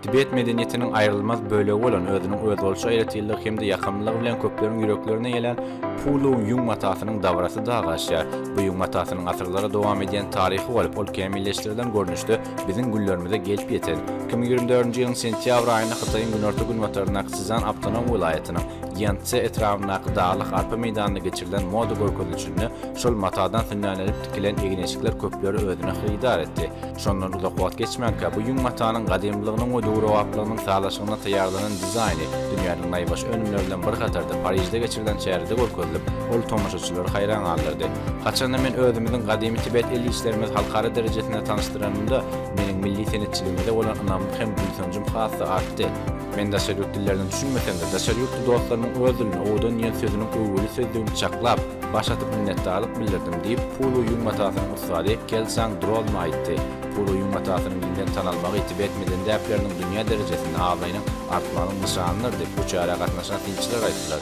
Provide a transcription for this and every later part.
Tibet medeniýetiniň aýrylmaz bölegi bolan özüniň özboluşy aýratynlygy hem-de ýakymlylygy bilen köpleriň ýüreklerine ýelän Pulu ýüň matasynyň dabrasy dagy aşýar. Bu ýüň matasynyň asyrlara dowam edýän taryhy bolup, ol kämilleşdirilen görnüşde biziň günlerimize gelip ýeten iki müň ýigrimi dördünji ýylyň sentýabr aýynda Hytaýyň günorta-günbataryndaky Szýan awtonom welaýatynyň Ýanszze etrabyndaky daglyk arpa meýdanynda geçirilen moda görkezilişinde şol matadan sünnälenip tikilen egin-eşikler köpleri özüne hyrydar etdi. Şondan uzak wagt geçmänkä bu ýüň matanyň gadymylygynyň we döwrebaplygynyň sazlaşygyna taýýarlanan dizaýny dünýäniň naýbaşy önümleri bilen bir hatarda Parižde geçirilen çärede görkezilip, ol tomaşaçylary haýran galdyrdy. Haçanda men özümiziň gadymy tibet el işlerimizi halkara derejesinde tanyşdyranymda, meniň milli senetçiligimize bolan ynamym hem buýsanjym has-da artdy. Men daşary ýurt dillerine düşünmesem-de, daşary ýurtly dostlarymyň öz dilinde owadan diýen sözüniň öwgüli sözlügini çaklap, Baş atyp minnetdarlyk bildirdim, diýip, Pulu ýüň matasynyň ussady Keltsang Drolma aýtdy. Pulu ýüň matasynyň giňden tanalmagy tibet medeni däpleriniň dünýä derejesinde abraýynyň artmagynyň nyşanydyr, diýip, bu çärä gatnaşan synçylar aýtdylar.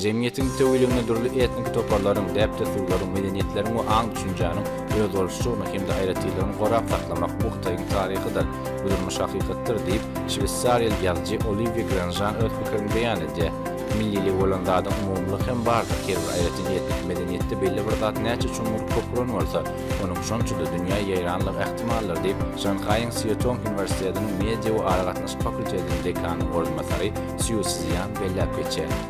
Jemgyýetiň bütewiliginde dürli etniki toparlaryň, däp-dessurlaryň, medeniýetleriň we aň-düşünjäniň özboluşlygyny hem-de aýratynlygyny gorap saklamak bu Hytaýyň taryhydyr, bu durmuş hakykatdyr, diýip, şweýsariýaly ýazyjy Oliwýe Granžan öz pikirini beýan edýär. Millilik bolan zadyň umumylyk hem bardyr, her bir aýratynýetlik medeniýetde belli bir zat näçe çuňňur köpüren bolsa, onuň şonça-da dünýä ýaýranlygy ähtimaldyr diýip, Şanhaýyň Sýetong uniwersitetiniň media we aragatnaşyk fakultetiniň dekanynyň orunbasary Sýu Szýan belläp geçýär.